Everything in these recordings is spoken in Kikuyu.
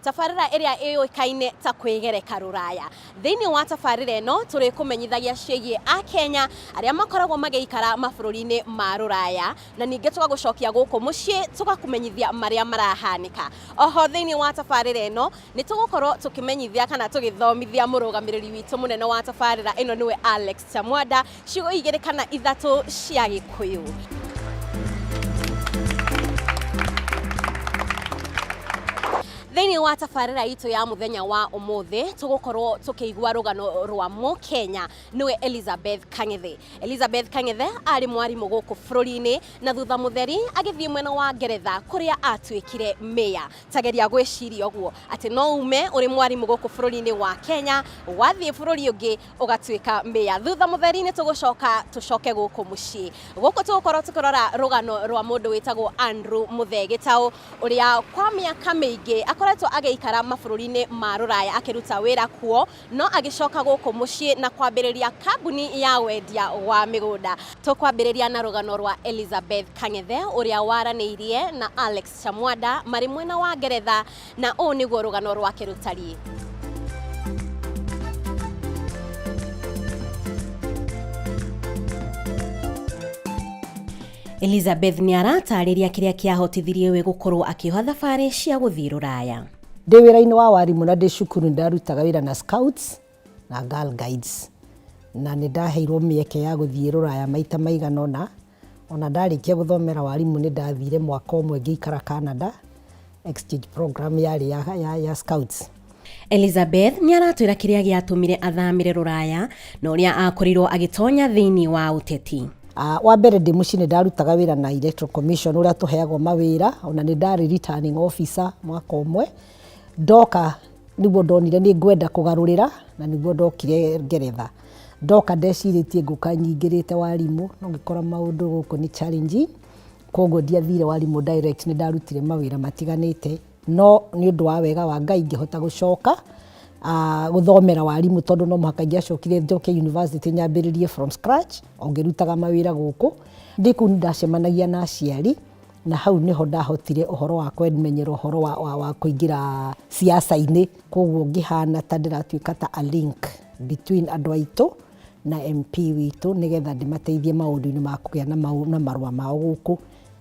Tabarĩra ĩrĩa ĩũĩkaine ta Kwĩgereka Rũraya. Thĩinĩ wa tabarĩra ĩno, tũrĩkũmenyithagia ciĩgiĩ Akenya arĩa makoragwo magĩikara mabũrũri-inĩ ma Rũraya, na ningĩ tũgagũcokia gũkũ mũciĩ tũgakũmenyithia marĩa marahanĩka. O ho thĩinĩ wa tabarĩra ĩno, nĩ tũgũkorwo tũkĩmenyithia kana tũgĩthomithia mũrũgamĩrĩri witũ mũnene wa tabarĩra ĩno nĩwe Alex Chamwada. Ciugo igĩrĩ kana ithatũ cia Gĩkũyũ. Thĩinĩ wa tabarĩra itũ ya mũthenya wa ũmũthĩ tũgũkorwo tũkĩigua rũgano rwa Mũkenya nĩwe Elizabeth Kang'ethe. Elizabeth Kang'ethe arĩ mwarimũ gũkũ bũrũri-inĩ na thutha mũtheri agĩthiĩ mwena wa Ngeretha kũrĩa atuĩkire mayor. Ta geria gwĩciria ũguo atĩ no ume ũrĩ mwarimũ gũkũ bũrũri-inĩ wa Kenya wathiĩ bũrũri ũngĩ ũgatuĩka mĩa thutha mũtheri-inĩ tũgũcoka tũcoke gũkũ mũciĩ gũkũ tũgũkorwo tũkĩrora rũgano rwa mũndũ wĩtagwo Andrew Mũthee Gĩtaũ ũrĩa kwa mĩaka mĩingĩ akoretwo agĩikara mabũrũri-inĩ ma rũraya akĩruta wĩra kuo no agĩcoka gũkũ mũciĩ na kwambĩrĩria kambuni ya wendia wa mĩgũnda tũkwambĩrĩria na rũgano rwa Elizabeth Kang'ethe ũrĩa waranĩirie na Alex Chamwanda marĩ mwena wa Ngeretha Na ũũ nĩguo rũgano rwake rũtariĩ. Elizabeth nĩ arataarĩria kĩrĩa kĩahotithirie we gũkorũo akĩoha thabarĩ cia gũthiĩ Rũraya. Ndĩ wĩra-inĩ wa warimũ na ndĩ cukuru nĩ ndarutaga wĩra na Scouts na Girl Guides, na nĩ ndaheirũo mĩeke ya gũthiĩ Rũraya maita maigana ũna. O na ndarĩkia gũthomera warimũ nĩ ndathire mwaka ũmwe ngĩikara Canada, exchange program yarĩ ya, ya, ya scouts. Elizabeth nĩ aratwĩra kĩrĩa gĩatũmire athamĩre rũraya na ũrĩa akorirwo agĩtonya thĩinĩ wa ũteti. Uh, wa mbere ndĩ mũciĩ nĩ ndarutaga wĩra na Electoral Commission ũrĩa tũheagwo mawĩra, ona nĩ ndarĩ returning officer mwaka ũmwe. Ndoka nĩguo ndonire nĩ ngwenda kũgarũrĩra na nĩguo ndokire Ngeretha. Ndoka ndecirĩtie ngũka nyingĩrĩte warimũ no ngĩkora maũndũ gũkũ nĩ challenging, kwoguo ndiathire warimũ direct nĩ ndarutire mawĩra matiganĩte. No nĩ ũndũ wa wega wa Ngai ngĩhota gũcoka gũthomera warimũ tondũ no mũhaka ingĩacokire njoke yunivasĩtĩ nyambĩrĩrie from scratch o ngĩrutaga mawĩra gũkũ. Ndĩ kũu nĩ ndacemanagia na aciari. na hau nĩho ndahotire ũhoro wa kwemenyera ũhoro wa, wa, wa kũingĩra siasa-inĩ koguo ngĩhana ta ndĩratuĩka ta a link between andũ aitũ na MP witũ nĩgetha ndĩmateithie maũndũ-inĩ ma kũgĩa na, mau, na marũa mao gũkũ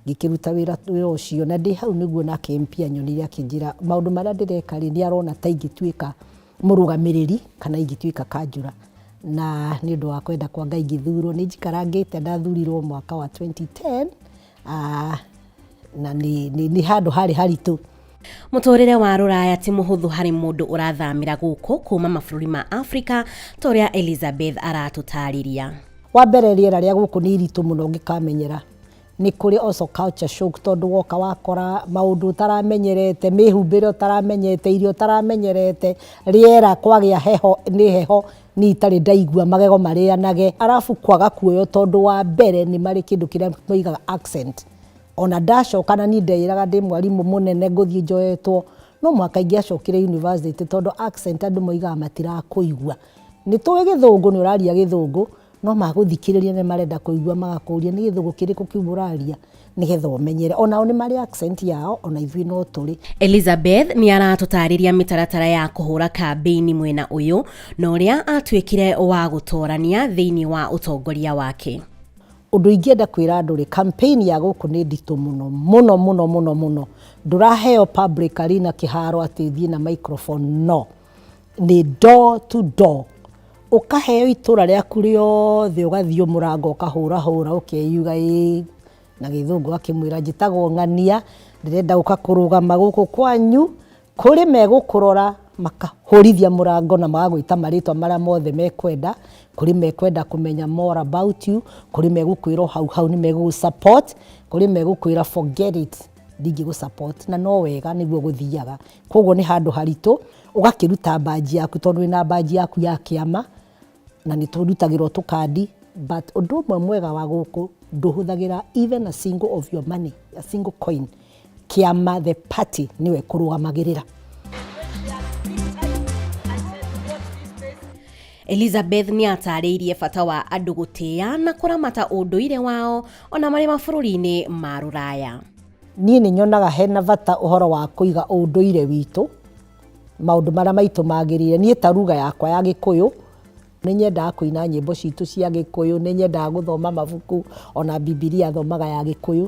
ngĩkĩruta wĩra wĩra ũcio na ndĩ hau nĩguo nake MP anyonire akĩnjĩra maũndũ marĩa ndĩreka rĩ nĩ arona ta ingĩtuĩka mũrũgamĩrĩri kana ingĩtuĩka kanjũra na nĩ ũndũ wa kwenda kwa Ngai ngĩthurwo. Nĩ njikarangĩte ndathurirwo mwaka wa 2010 ah, na nĩ handũ harĩ haritũ Mũtũrĩre wa rũraya ti mũhũthũ harĩ mũndũ ũrathamĩra gũkũ kuma mabũrũri ma Afrika ta ũrĩa Elizabeth aratũtarĩria. Wa mbere rĩera rĩa gũkũ nĩ iritũ mũno ũngĩkamenyera Nĩ kũrĩ also culture shock tondũ woka wakora maũndũ ũtaramenyerete, mĩhumbĩre ũtaramenyete, irio ũtaramenyerete, rĩera kwagĩa heho nĩ heho niĩ itarĩ ndaigua magego marĩanage. Arabu kwaga kuoywo tondũ wa mbere nĩ marĩ kĩndũ kĩrĩa moigaga accent. O na ndacoka na niĩ ndeĩraga ndĩ mwarimũ mũnene ngũthiĩ njoetwo, no mũhaka ingĩacokire university tondũ accent andũ moigaga matirakũigua. Nĩ tũĩ gĩthũngũ, nĩ ũraria gĩthũngũ, No magũthikĩrĩria nĩ marenda kũigua magakũria nĩ gĩthũgũ kĩrĩkũ kĩu ũraria nĩgetha ũmenyere. Onao nĩ marĩ accent yao ona ithuĩ no tũrĩ. Elizabeth nĩ aratũtaarĩria mĩtaratara ya kũhũra kambĩini mwena ũyũ na ũrĩa atuĩkire wa gũtoorania thĩinĩ wa ũtongoria wake. Ũndũ ingĩenda kwĩra andũ rĩ, campaign ya gũkũ nĩ nditũ mũno mũno mũno mũno mũno. Ndũraheo public arena kĩharo atĩ thiĩ na microphone, no. nĩ door to door. Ũkaheo itũũra rĩaku rĩothe ũgathiĩ mũrango ũkahũra hũra ũkeyuga ĩĩ, na gĩthũngũ ũgakĩmwĩra njĩtagwo ng'ania, ndĩrenda gũka kũrũgama gũkũ kwanyu, kũrĩ megũkũrora makahũrithia mũrango na magagwĩta marĩtwa marĩa mothe mekwenda, kũrĩ mekwenda kũmenya more about you, kũrĩ megũkwĩra o hau hau nĩ megũgũ support, kũrĩ megũkwĩra forget it. ndingĩgũ support na no wega nĩguo gũthiaga koguo nĩ handũ haritũ ũgakĩruta mbanji yaku tondũ wĩna mbanji yaku ya kĩama na nĩ tũrutagĩrwo tũkandi but ũndũ ũmwe mwega wa gũkũ ndũhũthagĩra even a single of your money a single coin kĩama the party nĩwe kũrũgamagĩrĩra Elizabeth nĩ aataarĩirie bata wa andũ gũtĩa na kũramata ũndũire wao o na marĩ mabũrũri-inĩ ma Rũraya. Niĩ nĩ nyonaga hena bata ũhoro wa kũiga ũndũire witũ, maũndũ marĩa maitũ magĩrĩire. Niĩ ta ruga yakwa ya Gĩkũyũ, nĩ nyendaga kũina nyĩmbo citũ cia Gĩkũyũ, nĩ nyendaga gũthoma mabuku, o na Bibilia thomaga ya Gĩkũyũ.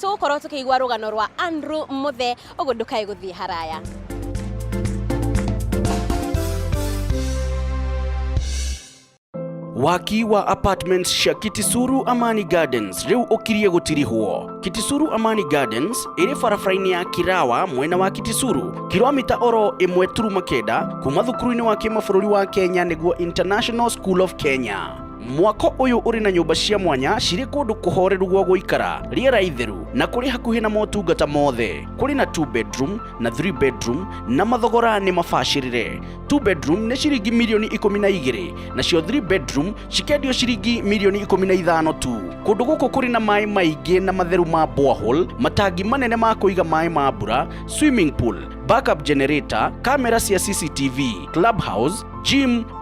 Tũgũkorwo tũkĩigua rũgano rwa Andrew Mũthe, ũguo ndũkae gũthiĩ haraya. waki wa apartments cia kitisuru amani gardens rĩu ũkirie gũtirihwo kitisuru amani gardens ĩrĩ barabara-inĩ ya kirawa mwena wa kitisuru kilomita oro ĩmwe turuma kenda kuma thukuru-inĩ wa kĩmabũrũri wa kenya nĩguo international school of kenya Mwako ũyũ ũrĩ na nyũmba cia mwanya cirĩ kũndũ kũhoreru gwa gũikara, rĩera itheru na kũrĩ hakuhĩ na motungata mothe. Kũrĩ na 2 bedroom na 3 bedroom na mathogora nĩ mabacĩrĩre. 2 bedroom nĩ ciringi mirioni ikũmi na igĩrĩ nacio 3 bedroom cikendio ciringi mirioni ikũmi na ithano tu. Kũndũ gũkũ kũrĩ na maĩ maingĩ na matheru ma borehole, matangi manene ma kũiga maĩ ma mbura, swimming pool, backup generator, kamera cia CCTV, clubhouse, gym,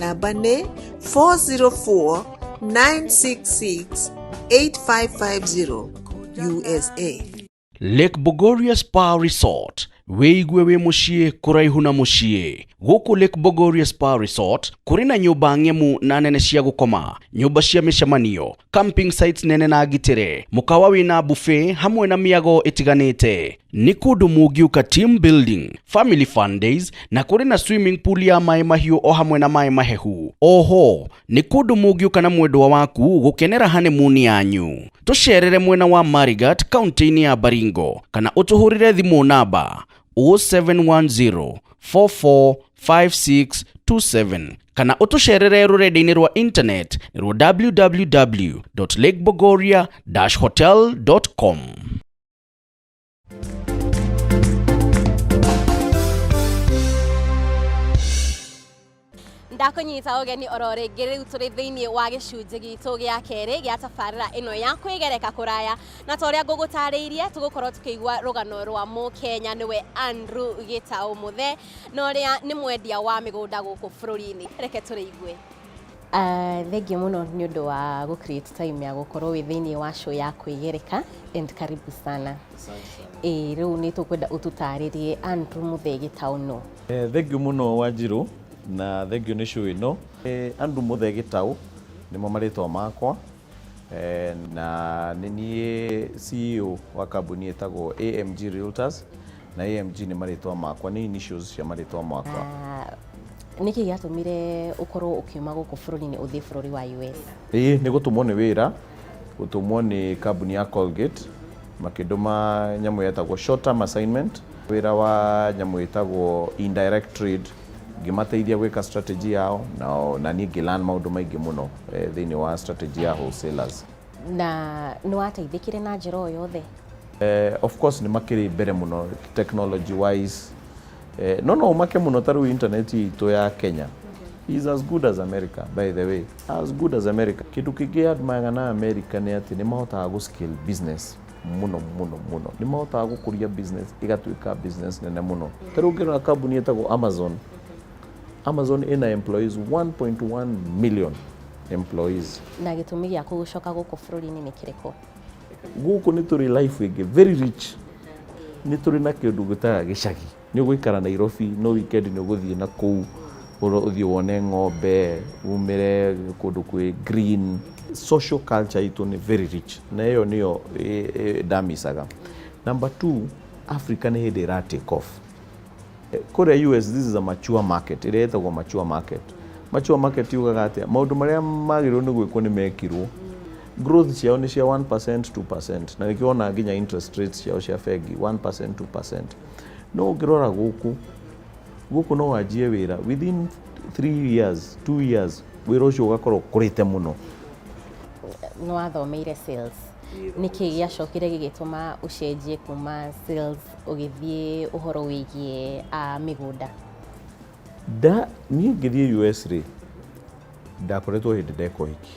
namba nĩ 404 966 8550 usa lake bogoria spa resort wĩigue wĩ mũciĩ kũraihu na mũciĩ gũkũ lake bogoria spa resort kũrĩ na nyũmba ng'emu na nene cia gũkoma nyũmba cia mĩcemanio camping sites nene na ngitĩre mũkawa wĩna buffet hamwe na mĩago ĩtiganĩte nĩ kũndũ mũngiũka team building family fun days na kũrĩ na swimming pool ya maĩ mahiũ o hamwe na maĩ mahehu oho nĩ kũndũ mũngiũka na mwendwa waku gũkenera honeymoon yanyu tũcerere mwena wa marigat kaunti-inĩ ya baringo kana ũtũhũrĩre thimũ namba 0710 44 5627 kana ũtũcerere rũrenda-inĩ rwa intaneti rwa www lakebogoria hotel com ndakũnyita ũgeni oro rĩngĩ rĩu tũrĩ thĩinĩ wa gĩcunjĩ gitũ gĩa kerĩ gĩa tabarĩra ĩno ya kwĩgereka kũraya na ta ũrĩa ngũgũtarĩirie tũgũkorwo tũkĩigua rũgano rwa mũkenya nĩwe Andrew Gĩtaũ Mũthee na ũrĩa nĩ mwendia wa mĩgũnda gũkũ bũrũri-inĩ. Reke tũrĩigue. Uh, thengiũ mũno nĩ ũndũ wa gũ create time ya gũkorwo wĩ thĩinĩ wa show ya kwĩgereka and karibu sana ĩ rĩu nĩ tũkwenda ũtũtarĩrie andrew mũthege town no Eh, thengiũ mũno wanjirũ na thengiũ nĩ show ĩno Eh, andrew mũthege taũ nĩmo marĩtwa makwa Eh, na nĩ niĩ CEO wa kambuni ĩtagwo AMG Realtors na AMG nĩ marĩtwa makwa nĩ initials cia marĩtwa makwa Ah, nĩkĩ gĩatũmire ũkorwo ũkiuma gũkũ bũrũri-inĩ ũthiĩ bũrũri wa us ĩĩ nĩ gũtũmwo nĩ wĩra gũtũmwo nĩ kambuni ya Colgate makĩndũma nyamũ yetagwo short term assignment wĩra wa nyamũ ĩtagwo indirect trade ngĩmateithia gwĩka strategy yao na, na niĩ ngĩlan maũndũ maingĩ mũno eh, thĩinĩ wa strategy ya wholesalers na nĩ wateithĩkire na njĩra o yothe eh, of course nĩ makĩrĩ mbere mũno technology wise eh, no no umake mũno ta rĩu internet itũ ya kenya is as good as america by the way as good as america kĩndũ kĩngĩ admayaga na america nĩ atĩ nĩ mahotaga gũ scale business mũno mũno mũno nĩ mahotaga gũkũria business ĩgatuĩka business nene mũno ta rĩu ũngĩrora kambuni ĩtagwo amazon amazon ĩna employees 1.1 million employees na gĩtũmi gĩa gũcoka gũkũ bũrũri-inĩ nĩ kĩrĩkũ gũkũ nĩ tũrĩ life ĩngĩ very rich nĩ tũrĩ na kĩndũ gĩtaga gĩcagi Nĩ ũgũikara Nairobi no weekend nĩ ũgũthiĩ na kũu ũthiĩ wone ng'ombe, umĩre kũndũ kwĩ green. Social culture itũ nĩ very rich na ĩyo nĩyo ndamicaga. Number two, Africa nĩ hĩndĩ ĩra take off. Kũrĩa US this is a mature market ĩrĩa ĩtagwo mature market. Mature market yugaga atĩa? Maũndũ marĩa magĩrĩirwo nĩ gwĩkwo nĩ mekirwo. Growth ciao nĩ cia one percent, two percent na nĩkĩo wonaga nginya interest rates ciao cia bengi one percent, two percent. no ũngĩrora gũkũ gũkũ no wanjie wĩra within 3 years 2 years wĩra ũcio ũgakorwo ũkũrĩte mũno nĩ wathomeire sales nĩkĩ gĩacokire gĩgĩtũma ũcenjie kuma sales ũgĩthiĩ ũhoro wĩgiĩ a mĩgũnda nda niĩ ngĩthiĩ US rĩ ndakoretwo hĩndĩ ndeka ũhiki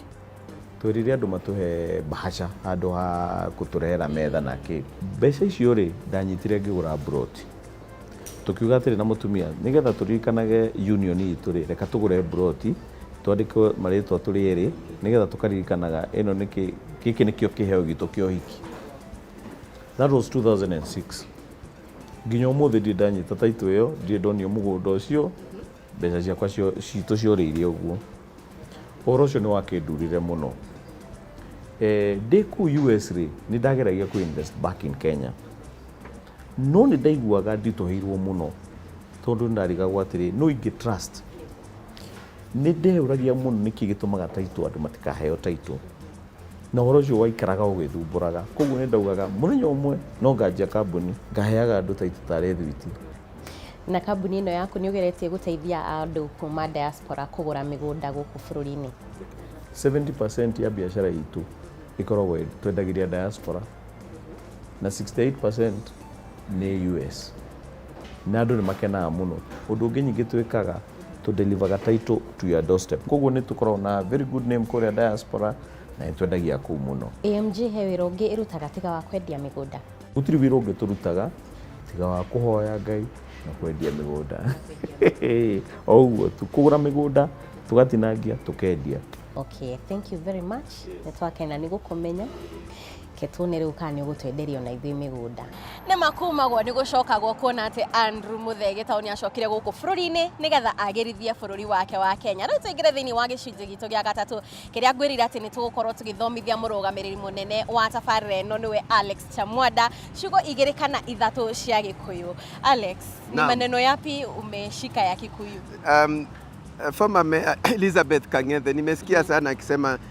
twerire andũ matũhe bahasha handũ ha kũtũrehera metha na kĩ mbeca icio rĩ ndanyitire ngĩgũra broti tũkiuga atĩrĩ na mũtumia nĩgetha tũririkanage union itũ rĩ reka tũgũre broti twandĩke marĩtwa tũrĩ erĩ nĩgetha tũkaririkanaga ĩno nĩ kĩ gĩkĩ nĩkĩo kĩheo gitũ kĩa ũhiki that was 2006 Nginya ũmũthĩ ndirĩ ndanyita title ĩyo, ndirĩ ndonio mũgũnda ũcio, mbeca ciakwa cio- citũ ciorĩire ũguo. Ũhoro ũcio nĩ wakĩndurire mũno. Eh, ndĩ kũu US rĩ, nĩ ndageragia kũ invest back in Kenya. No nĩ ndaiguaga nditũhĩirwo mũno tondũ nĩ ndarigagwo atĩrĩ, nũ ingĩ trust? Nĩ ndeyũragia mũno nĩkĩ gĩtũmaga title andũ matikaheo title. Na ũhoro ũcio waikaraga ũgĩthumbũraga. Kwoguo nĩ ndaugaga mũthenya ũmwe no nganjia kambuni, ngaheaga andũ taitũ tarĩ thwiti. Na kambuni ĩno yaku nĩ ũgeretie gũteithia andũ kuma diaspora kũgũra mĩgũnda gũkũ bũrũri-inĩ? 70% ya biacara itũ ĩkoragwo twendagĩria diaspora na 68% nĩ US. Na andũ nĩ makenaga mũno. Ũndũ ũngĩ ningĩ twĩkaga, tũ deliver-ga title to your doorstep. Kwoguo nĩ tũkoragwo na very good name kũrĩa diaspora na nĩ twendagia kũu mũno. AMG he wĩra ũngĩ ĩrutaga tiga wa kwendia mĩgũnda? Gũtirĩ wĩra ũngĩ tũrutaga tiga wa kũhoya Ngai na kwendia mĩgũnda. O ũguo tu. Kũgũra mĩgũnda, tũgatinangia, tũkendia. Okay, thank you very much. Nĩ twakena nĩ gũkũmenya. Reke tuone rĩu kana nĩ ũgũtwenderia ona ithuĩ mĩgũnda. Nĩ ma kumagwo nĩ gũcokagwo kuona atĩ Andrew Mũthee Gĩtaũ nĩ acokire gũkũ bũrũri-inĩ nĩgetha agĩrithie bũrũri wake wa Kenya. Rĩu tũingĩre thĩinĩ wa gĩcunjĩ gitũ gĩa gatatũ kĩrĩa ngwĩrire atĩ nĩ tũgũkorwo tũgĩthomithia mũrũgamĩrĩri mũnene wa tabarĩra ĩno nĩwe Alex Chamwanda ciugo igĩrĩ kana ithatũ cia Gĩkũyũ. Alex, ni Naam. maneno yapi umeshika ya Kikuyu? Um, former mayor Elizabeth Kang'ethe nimesikia sana akisema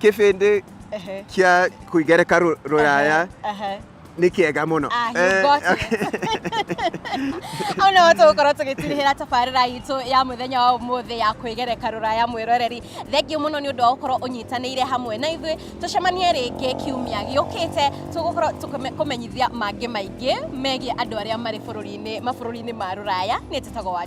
kĩbĩndĩ Ehe. kĩa kũigereka rũ- rũraya Ehe. nĩ kĩega mũno Ah, you Eh, got hau nĩho tũgũkorwo tũgĩtirihĩra tabarĩra itũ ya mũthenya wa ũmũthĩ ya kwĩgereka rũraya mwĩroreri thengiũ mũno nĩ ũndũ wa gũkorwo ũnyitanĩire hamwe na ithuĩ tũcemanie rĩngĩ kiumia gĩũkĩte tũgũkorwo tũkũmenyithia mangĩ maingĩ megiĩ andũ arĩa marĩ bũrũri-inĩ mabũrũri-inĩ ma rũraya nĩ njĩtagwo wa